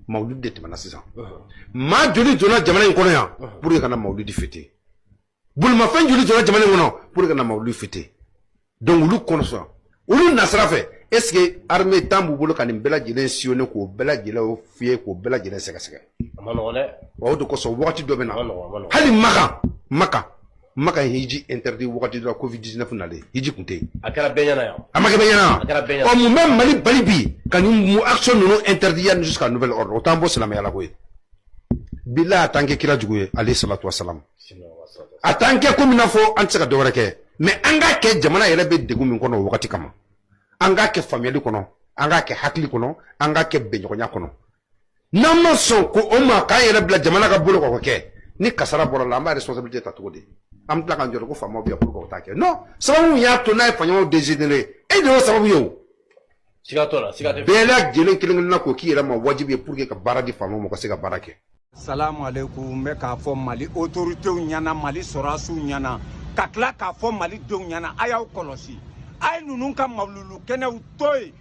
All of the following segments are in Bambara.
mawuludi de tɛmɛna sisan maa joli donna jamana in kɔnɔ yan pour que ka na mawuludi fêter bolimafɛn joli donna jamana in kɔnɔ pour que ka na mawuludi fêter donc olu kɔnɔ sɔrɔ olu nasira fɛ est ce que armée temps b'u bolo ka nin bɛɛ lajɛlen sillonner k'o bɛɛ lajɛlen fouiller k'o bɛɛ lajɛlen sɛgɛsɛgɛ wa o de kosɔn wagati dɔ bɛ na hali makan makan maka ye hiji interdit wagati dɔ la covid 19 nalen hiji tun tɛ yen a kɛra bɛɛ ɲɛna yan a ma kɛ bɛɛ ɲɛna a kɛra bɛɛ ɲɛna ɔ mun bɛ mali bali bi ka nin action ninnu interdit yanni jusqu'à nouvel ordre o t'an bɔ silamɛya la ko ye bilahi a t'an kɛ kira jugu ye alayhi salatu wasalam a t'an kɛ komi n'a fɔ an tɛ se ka dɔwɛrɛ kɛ mais an k'a kɛ jamana yɛrɛ bɛ degun min kɔnɔ o wagati kama an k'a kɛ faamuyali kɔnɔ an k'a kɛ hakili kɔnɔ an k'a kɛ bɛnɲɔgɔnya kɔnɔ n'an ma sɔn ko o ma k'an yɛrɛ bila jamana ka bolo kan k'o kɛ ni kasara bɔr'a la an b'a responsabilité ta cogo di an bɛ tila k'an jɔ ko faamaw bɛ yan pourquoi u t'a kɛ non sababu y'a to n'a ye faɲɔgɔnw dégénéré e de y'o sababu ye o siga t'o la siga tɛ bɛɛ lajɛlen kelen kelenna k'o k'i yɛrɛ ma wajibi ye pour que ka baara di faamaw ma u ka se ka baara kɛ salamu aleykum n bɛ k'a fɔ mali autoritéw ɲɛna mali sɔrɔdasiw ɲɛna ka tila k'a fɔ mali denw ɲɛna a y'aw kɔlɔsi a ye ninnu ka mawululu kɛnɛw to yen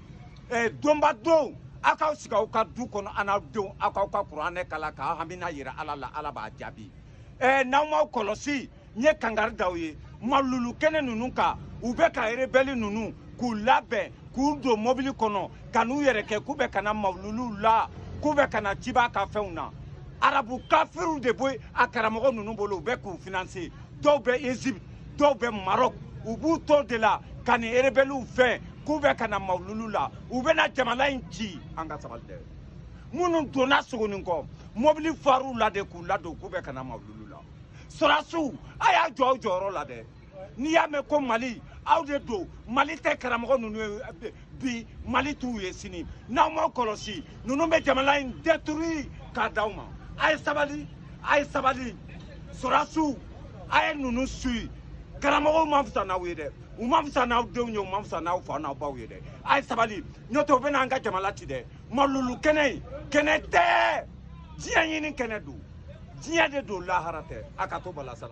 eh, donba don aw k'aw sigi aw ka du kɔnɔ an'aw denw aw k'aw ka kuranɛ kalan k'aw hamina yira ala la ala b'a jaabi eh, n'aw m'aw kɔlɔsi n ye kangari d'aw ye malulu kɛnɛ ninnu kan u bɛ ka erebɛli ninnu k'u labɛn k'u don mɔbili kɔnɔ ka n'u yɛrɛ kɛ k'u bɛ ka na maluluw la k'u bɛ ka na ciba ka fɛnw na arabu kafiriw de bɛ a karamɔgɔ ninnu bolo u bɛ k'u financer dɔw bɛ egypte dɔw bɛ maroc u b'u to de la ka nin erebɛliw fɛn k'u bɛ ka na mawululu la u bɛna jamana in ci an ka sabali dɛ minnu donna sogoninkɔ mɔbili far'u la de k'u ladon k'u bɛ ka na mawululu la sɔrasiw a y'aw jɔ aw jɔyɔrɔ la dɛ n'i y'a mɛn ko mali aw de don mali tɛ karamɔgɔ ninnu ye eh, bi mali t'u ye sini n'aw m'aw kɔlɔsi ninnu bɛ jamana in détruire k'a d'aw ma a ye sabali a ye sabali sɔrasiw a ye ninnu suivi karamɔgɔw ma fisa n'aw ye dɛ u ma fisa n'aw denw ye u ma fisa n'aw fa n'aw baw ye dɛ a ye sabali n'o tɛ u bɛ n'an ka jamana ci dɛ malulu kɛnɛ in kɛnɛ tɛ diɲɛ ɲini kɛnɛ don diɲɛ de don lahara tɛ a ka to balasala